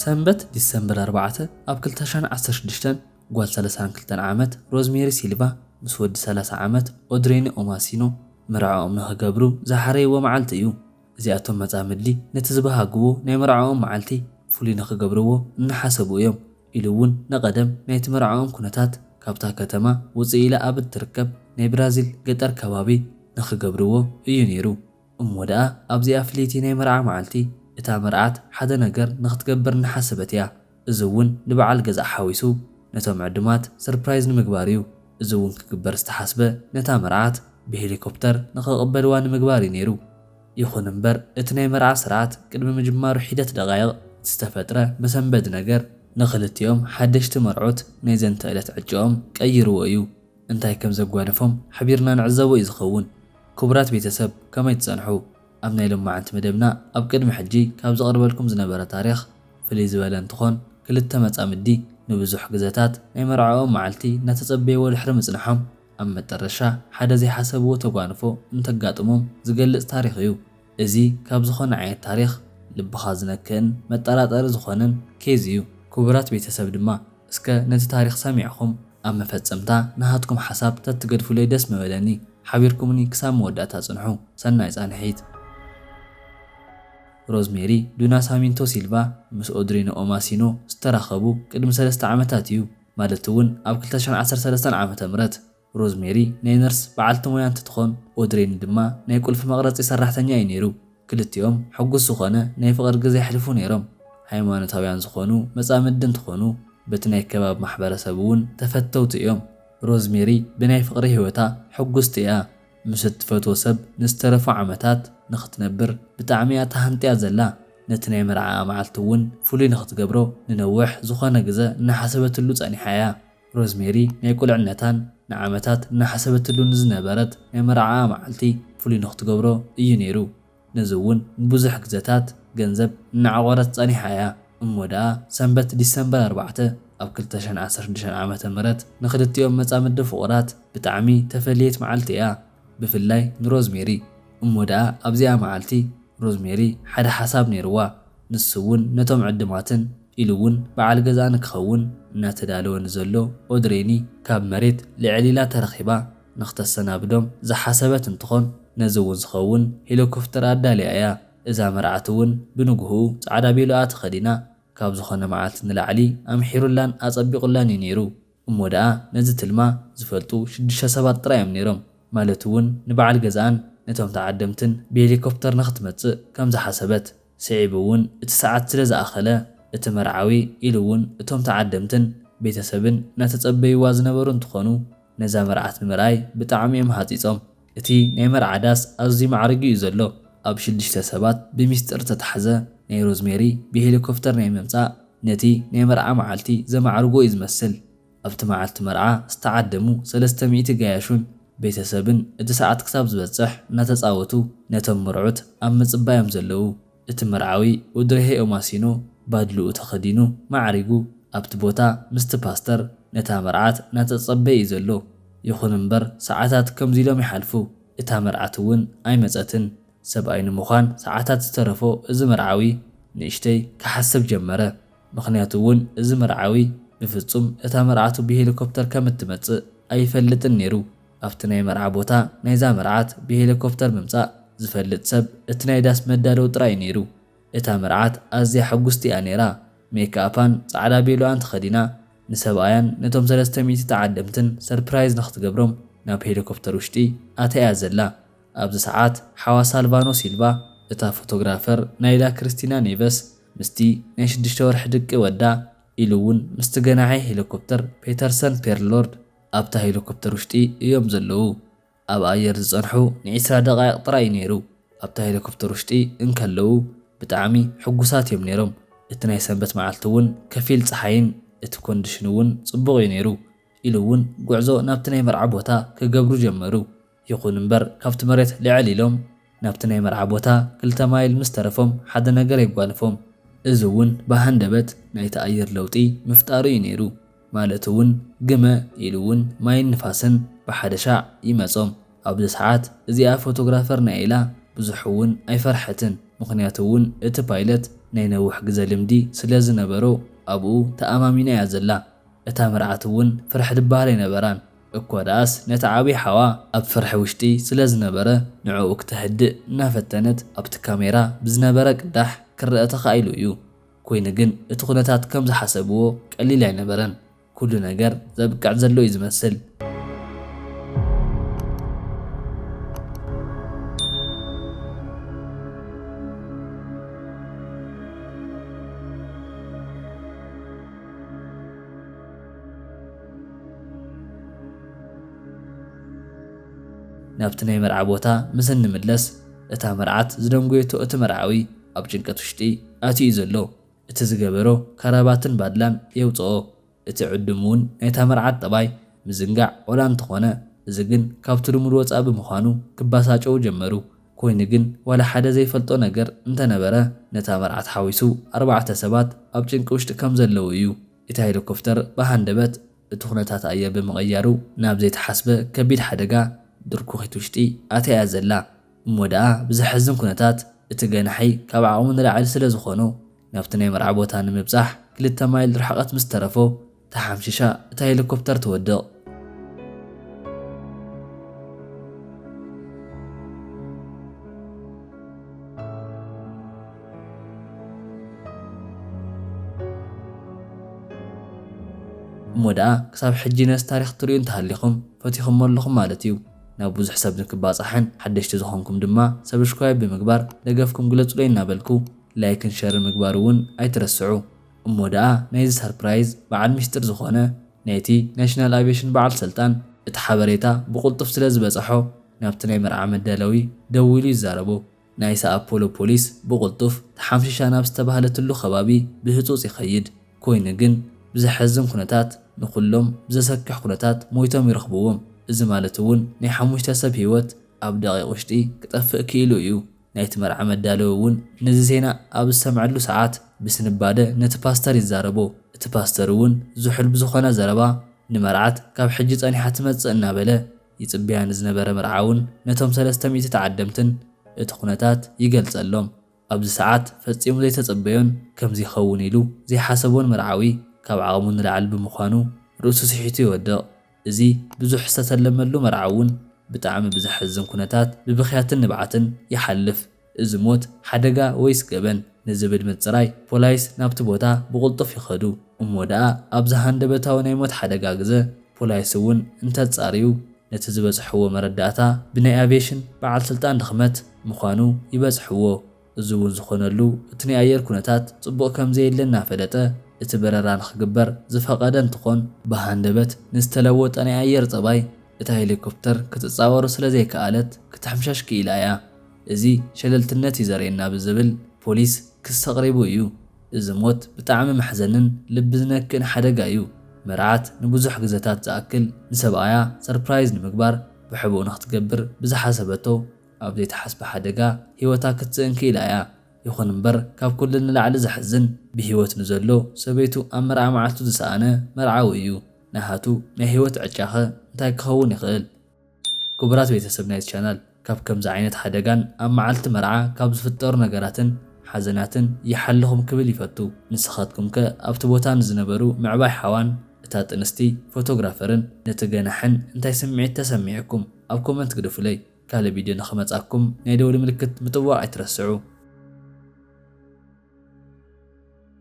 ሰንበት ዲሰምበር ኣርባዕተ ኣብ ክልተ ሽሕን ዓሰርተ ሽዱሽተን ጓል ሰላሳን ክልተን ዓመት ሮዝሜሪ ሲልቫ ምስ ወዲ ሰላሳ ዓመት ኦድሬኒ ኦማሲኖ መርዕኦም ንኽገብሩ ዝሓረይዎ መዓልቲ እዩ። እዚኣቶም መጻምዲ ነቲ ዝበሃግዎ ናይ መርዕኦም መዓልቲ ፍሉይ ንኽገብርዎ እናሓሰቡ እዮም ኢሉ'ውን ንቐደም ናይቲ መርዕኦም ኩነታት ካብታ ከተማ ውጽእ ኢላ ኣብ እትርከብ ናይ ብራዚል ገጠር ከባቢ ንኽገብርዎ እዩ ነይሩ። እሞ ደኣ ኣብዚኣ ፍልይቲ ናይ መርዓ መዓልቲ፣ እታ መርዓት ሓደ ነገር ንኽትገብር እናሓሰበት እያ። እዚ እውን ንበዓል ገዝኣ ሓዊሱ ነቶም ዕዱማት ሰርፕራይዝ ንምግባር እዩ። እዚ እውን ክግበር ዝተሓስበ ነታ መርዓት ብሄሊኮፕተር ንኽቕበልዋ ንምግባር እዩ ነይሩ። ይኹን እምበር እቲ ናይ መርዓ ስርዓት ቅድሚ ምጅማሩ ሒደት ደቓይቕ እቲ ዝተፈጥረ መሰንበዲ ነገር ንኽልቲኦም ሓደሽቲ መርዑት ናይ ዘንተ ዕለት ዕጭኦም ቀይርዎ እዩ። እንታይ ከም ዘጓነፎም ሓቢርና ንዕዘቦ እዩ ዝኸውን። ክቡራት ቤተሰብ ከመይ ትጸንሑ? ኣብ ናይ ሎማዕንቲ መደብና ኣብ ቅድሚ ሕጂ ካብ ዘቕርበልኩም ዝነበረ ታሪኽ ፍልይ ዝበለ እንትኾን ክልተ መጻምዲ ንብዙሕ ግዘታት ናይ መርዐኦም መዓልቲ እናተጸበይዎ ድሕሪ ምጽንሖም ኣብ መጠረሻ ሓደ ዘይሓሰብዎ ተጓንፎ እንተጋጥሞም ዝገልጽ ታሪኽ እዩ። እዚ ካብ ዝኾነ ዓይነት ታሪኽ ልብኻ ዝነክእን መጠራጠሪ ዝኾነን ኬዝ እዩ። ክቡራት ቤተሰብ ድማ እስከ ነቲ ታሪኽ ሰሚዕኹም ኣብ መፈጸምታ ንሃትኩም ሓሳብ ተትገድፉለይ ደስ ምበለኒ። ሓቢርኩምኒ ክሳብ መወዳእታ ጽንሑ። ሰናይ ጻንሒት። ሮዝሜሪ ዱናሳሚንቶ ሲልቫ ምስ ኦድሪኖ ኦማሲኖ ዝተራኸቡ ቅድሚ ሰለስተ ዓመታት እዩ፣ ማለት'ውን ኣብ ክልተ ሽሕን ዓሰርተ ሰለስተን ዓመተ ምህረት። ሮዝሜሪ ናይ ነርስ በዓልቲ ሞያ እንትትኾን፣ ኦድሬኒ ድማ ናይ ቁልፊ መቕረጺ ሰራሕተኛ እዩ ነይሩ። ክልቲኦም ሕጉስ ዝኾነ ናይ ፍቕሪ ግዘ የሕልፉ ነይሮም። ሃይማኖታውያን ዝኾኑ መጻምዲ እንትኾኑ፣ በቲ ናይ ከባቢ ማሕበረሰብ እውን ተፈተውቲ እዮም። ሮዝሜሪ ብናይ ፍቕሪ ህይወታ ሕጉስቲ እያ። ምስ እትፈትዎ ሰብ ንዝተረፉ ዓመታት ንኽትነብር ብጣዕሚ እያ ተሃንጥያ ዘላ። ነቲ ናይ መርዓኣ መዓልቲ እውን ፍሉይ ንኽትገብሮ ንነውሕ ዝኾነ ግዘ እናሓሰበትሉ ጸኒሓ እያ። ሮዝሜሪ ናይ ቁልዕነታን ንዓመታት እናሓሰበትሉ ንዝነበረት ናይ መርዓኣ መዓልቲ ፍሉይ ንኽትገብሮ እዩ ነይሩ። ነዚ እውን ንብዙሕ ግዘታት ገንዘብ እናዕቖረት ፀኒሓ እያ። እሞ ደኣ ሰንበት ዲሰምበር ኣርባዕተ ኣብ ክልተ ሽሕን ዓሰርተ ሽዱሽተን ዓመተ ምህረት ንኽልቲኦም መፃምዲ ፍቑራት ብጣዕሚ ተፈለየት መዓልቲ እያ። ብፍላይ ንሮዝሜሪ። እሞ ደኣ ኣብዚኣ መዓልቲ ሮዝሜሪ ሓደ ሓሳብ ነይሩዋ። ንሱ እውን ነቶም ዕድማትን። ኢሉ እውን በዓል ገዝኣ ንክኸውን እናተዳለወ ንዘሎ ኦድሬኒ ካብ መሬት ልዕል ኢላ ተረኺባ ንክተሰናብዶም ዝሓሰበት እንትኾን ነዚ እውን ዝኸውን ሄሊኮፍተር ኣዳልያ እያ። እዛ መርዓት እውን ብንጉህኡ ፃዕዳ ቤሎኣ ተኸዲና ካብ ዝኾነ መዓልቲ ንላዕሊ ኣምሒሩላን ኣፀቢቑላን እዩ ነይሩ። እሞ ደኣ ነዚ ትልማ ዝፈልጡ ሽዱሽተ ሰባት ጥራይ እዮም ነይሮም። ማለት'ውን ንበዓል ገዝኣን ነቶም ተዓደምትን ብሄሊኮፕተር ንኽትመጽእ ከም ዝሓሰበት። ስዒቡ'ውን እቲ ሰዓት ስለ ዝኣኸለ እቲ መርዓዊ ኢሉ'ውን እቶም ተዓደምትን ቤተሰብን እናተጸበዩዋ ዝነበሩ እንትኾኑ ነዛ መርዓት ንምርኣይ ብጣዕሚ እዮም ሃጺጾም። እቲ ናይ መርዓ ዳስ ኣዝዩ ማዕሪጉ እዩ ዘሎ ኣብ ሽዱሽተ ሰባት ብሚስጥር ዝተታሕዘ ናይ ሮዝሜሪ ብሄሊኮፍተር ናይ ምምጻእ ነቲ ናይ መርዓ መዓልቲ ዘማዕርጎ እዩ ዝመስል ኣብቲ መዓልቲ መርዓ ዝተዓደሙ ሰለስተ ሚእቲ ገያሹን ቤተሰብን እቲ ሰዓት ክሳብ ዝበጽሕ እናተጻወቱ ነቶም መርዑት ኣብ ምጽባይ እዮም ዘለዉ። እቲ መርዓዊ ኡድሬሄኡ ማሲኑ ባድልኡ ተኸዲኑ ማዕሪጉ ኣብቲ ቦታ ምስቲ ፓስተር ነታ መርዓት እናተጸበየ እዩ ዘሎ። ይኹን እምበር ሰዓታት ከምዚ ኢሎም ይሓልፉ። እታ መርዓት እውን ኣይመጸትን። ሰብኣይ ንምዃን ሰዓታት ዝተረፎ እዚ መርዓዊ ንእሽተይ ክሓስብ ጀመረ። ምኽንያቱ እውን እዚ መርዓዊ ብፍጹም እታ መርዓቱ ብሄሊኮፕተር ከም እትመጽእ ኣይፈልጥን ነይሩ። ኣብቲ ናይ መርዓ ቦታ ናይዛ መርዓት ብሄሊኮፕተር ምምጻእ ዝፈልጥ ሰብ እቲ ናይ ዳስ መዳለዊ ጥራይ እዩ ነይሩ። እታ መርዓት ኣዝያ ሕጉስቲ እያ ነይራ፣ ሜክኣፓን ጻዕዳ ቬሎኣን ተኸዲና፣ ንሰብኣያን ነቶም ሰለስተ ሚእቲ ተዓደምትን ሰርፕራይዝ ንኽትገብሮም ናብ ሄሊኮፕተር ውሽጢ ኣትያ እያ ዘላ። ኣብዚ ሰዓት ሓዋ ሳልቫኖ ሲልቫ፣ እታ ፎቶግራፈር ናይላ ክርስቲና ኔቨስ ምስቲ ናይ ሽዱሽተ ወርሒ ድቂ ወዳ ኢሉ'ውን ምስቲ ገናሒ ሄሊኮፕተር ፔተርሰን ፔርልሎርድ፣ ኣብታ ሄሊኮፕተር ውሽጢ እዮም ዘለዉ ኣብ ኣየር ዝጸንሑ ን ዕስራ ደቃይቅ ጥራይ እዩ ነይሩ ኣብታ ሄሊኮፕተር ውሽጢ እንከለዉ ብጣዕሚ ሕጉሳት እዮም ነይሮም እቲ ናይ ሰንበት መዓልቲ እውን ከፊል ጸሓይን እቲ ኮንድሽን እውን ጽቡቅ እዩ ነይሩ ኢሉ እውን ጉዕዞ ናብቲ ናይ መርዓ ቦታ ክገብሩ ጀመሩ። ይኹን እምበር ካብቲ መሬት ልዕል ኢሎም ናብቲ ናይ መርዓ ቦታ ክልተ ማይል ምስ ተረፎም ሓደ ነገር የጓንፎም። እዚ እውን ብሃንደበት ናይቲ ኣየር ለውጢ ምፍጣሩ እዩ ነይሩ። ማለት እውን ግመ ኢሉ እውን ማይን ንፋስን ብሓደ ሻዕ ይመፆም። ኣብዚ ሰዓት እዚኣ ፎቶግራፈር ናይ ኢላ ብዙሕ እውን ኣይፈርሐትን ምኽንያቱ እውን እቲ ፓይለት ናይ ነውሕ ግዘ ልምዲ ስለ ዝነበሮ ኣብኡ ተኣማሚና እያ ዘላ። እታ መርዓት እውን ፍርሕ ድበሃል ኣይነበራን። እኮ ደኣስ ነቲ ዓብይ ሓዋ ኣብ ፍርሒ ውሽጢ ስለ ዝነበረ ንዕኡ ክተህድእ እናፈተነት ኣብቲ ካሜራ ብዝነበረ ቅዳሕ ክረኣ ተኻኢሉ እዩ። ኮይኑ ግን እቲ ኩነታት ከም ዝሓሰብዎ ቀሊል ኣይነበረን። ኩሉ ነገር ዘብቅዕ ዘሎ እዩ ዝመስል። ናብቲ ናይ መርዓ ቦታ ምስ እንምለስ እታ መርዓት ዝደንጎየቶ እቲ መርዓዊ ኣብ ጭንቀት ውሽጢ ኣትዩ እዩ ዘሎ እቲ ዝገበሮ ካራባትን ባድላን የውጽኦ እቲ ዕዱም ውን ናይታ መርዓት ጠባይ ምዝንጋዕ ወላ እንተኾነ እዚ ግን ካብቲ ልሙድ ወጻኢ ብምዃኑ ክባሳጨዉ ጀመሩ ኮይኑ ግን ዋላ ሓደ ዘይፈልጦ ነገር እንተነበረ ነታ መርዓት ሓዊሱ ኣርባዕተ ሰባት ኣብ ጭንቂ ውሽጢ ከምዘለዉ እዩ እቲ ሄሊኮፍተር ብሃንደበት እቲ ኩነታት ኣየር ብምቕያሩ ናብ ዘይተሓስበ ከቢድ ሓደጋ ድርኩኺት ውሽጢ ኣትያ እያ ዘላ። እሞ ደኣ ብዘሕዝን ኩነታት እቲ ገናሒ ካብ ዓቕሙ ንላዕሊ ስለ ዝኾኖ ናብቲ ናይ መርዓ ቦታ ንምብጻሕ ክልተ ማይል ርሕቐት ምስ ተረፎ ተሓምሺሻ እታ ሄሊኮፕተር ትወድቕ። እሞ ደኣ ክሳብ ሕጂ ነዚ ታሪኽ ትርእዩ እንተሃሊኹም ፈቲኹሞ ኣለኹም ማለት እዩ። ናብ ብዙሕ ሰብ ንክባጻሕን ሓደሽቲ ዝኾንኩም ድማ ሰብሽክራይብ ብምግባር ደገፍኩም ግለጹለይ እናበልኩ ላይክን ሸርን ምግባር እውን ኣይትረስዑ። እሞ ደኣ ናይዚ ሰርፕራይዝ በዓል ሚስጢር ዝኾነ ናይቲ ናሽናል ኣቬሽን በዓል ሰልጣን እቲ ሓበሬታ ብቁልጡፍ ስለዝበጸሖ ናብቲ ናይ መርዓ መዳለዊ ደዊሉ ይዛረቦ። ናይ ሳኣፖሎ ፖሊስ ብቕልጡፍ ተሓምሺሻ ናብ ዝተባህለትሉ ከባቢ ብህጹጽ ይኸይድ፣ ኮይኑ ግን ብዘሐዝን ኩነታት ንኹሎም ብዘሰክሕ ኩነታት ሞይቶም ይረኽብዎም፣ እዚ ማለት'ውን ናይ ሓሙሽተ ሰብ ህይወት ኣብ ደቒቕ ውሽጢ ክጠፍእ ክኢሉ እዩ። ናይቲ መርዓ መዳለዊ እውን ነዚ ዜና ኣብ ዝሰምዐሉ ሰዓት ብስንባደ ነቲ ፓስተር ይዛረቦ፣ እቲ ፓስተር'ውን ዝሑል ብዝኾነ ዘረባ ንመርዓት ካብ ሕጂ ጸኒሓ ትመጽእ እናበለ፣ ይጽበያ ንዝነበረ መርዓውን ነቶም ሰለስተ ሚእቲ ተዓደምትን እቲ ኩነታት ይገልጸሎም። ኣብዚ ሰዓት ፈጺሙ ዘይተጸበዮን ከምዚ ይኸውን ኢሉ ዘይሓሰቦን መርዓዊ ካብ ዓቕሙ ንላዕሊ ብምዃኑ ርእሱ ስሒቱ ይወድቕ። እዚ ብዙሕ ዝተተለመሉ መርዓውን ብጣዕሚ ብዘሕዝን ኩነታት ብብኽያትን ንብዓትን ይሓልፍ። እዚ ሞት፣ ሓደጋ ወይስ ገበን ንዝብል ምጽራይ፣ ፖላይስ ናብቲ ቦታ ብቕልጡፍ ይኸዱ። እሞ ደኣ ኣብዚ ሃንደበታዊ ናይ ሞት ሓደጋ ግዘ፣ ፖላይስ እውን እንተጻርዩ፣ ነቲ ዝበጽሕዎ መረዳእታ ብናይ ኣቪየሽን በዓል ስልጣን ድኽመት ምዃኑ ይበጽሕዎ። እዚ እውን ዝኾነሉ እቲ ናይ ኣየር ኩነታት ጽቡቕ ከምዘየለ እናፈለጠ እቲ በረራ ንኽግበር ዝፈቐደ እንትኾን፣ ብሃንደበት ንዝተለወጠ ናይ ኣየር ጸባይ እታ ሄሊኮፕተር ክትጻወሮ ስለዘይከኣለት ክትሕምሸሽ ክኢላ እያ። እዚ ሸለልትነት እዩ ዘርእየና ብዝብል ፖሊስ ክሲ ኣቕሪቡ እዩ። እዚ ሞት ብጣዕሚ መሕዘንን ልቢ ዝነክእን ሓደጋ እዩ። መርዓት ንብዙሕ ግዘታት ዝኣክል ንሰብኣያ ሰርፕራይዝ ንምግባር ብሕቡእ ንክትገብር ብዝሓሰበቶ ኣብ ዘይተሓስበ ሓደጋ ሂወታ ክትስእን ክኢላ እያ። ይኹን እምበር ካብ ኩሉ ንላዕሊ ዘሕዝን ብሂወት ንዘሎ ሰበይቱ ኣብ መርዓ መዓልቱ ዝሰኣነ መርዓዊ እዩ። ናሃቱ ናይ ሂወት ዕጫኸ እንታይ ክኸውን ይኽእል? ክቡራት ቤተሰብ ናይዚ ቻናል ካብ ከምዚ ዓይነት ሓደጋን ኣብ መዓልቲ መርዓ ካብ ዝፍጠሩ ነገራትን ሓዘናትን ይሓልኹም ክብል ይፈቱ ንስኻትኩምከ ኣብቲ ቦታ ንዝነበሩ ምዕባይ ሓዋን እታ ጥንስቲ ፎቶግራፈርን ነቲ ገናሕን እንታይ ስምዒት ተሰሚዑኩም ኣብ ኮመንት ግደፉለይ ካልእ ቪድዮ ንኽመጻኩም ናይ ደውሊ ምልክት ምጥዋቕ ኣይትረስዑ።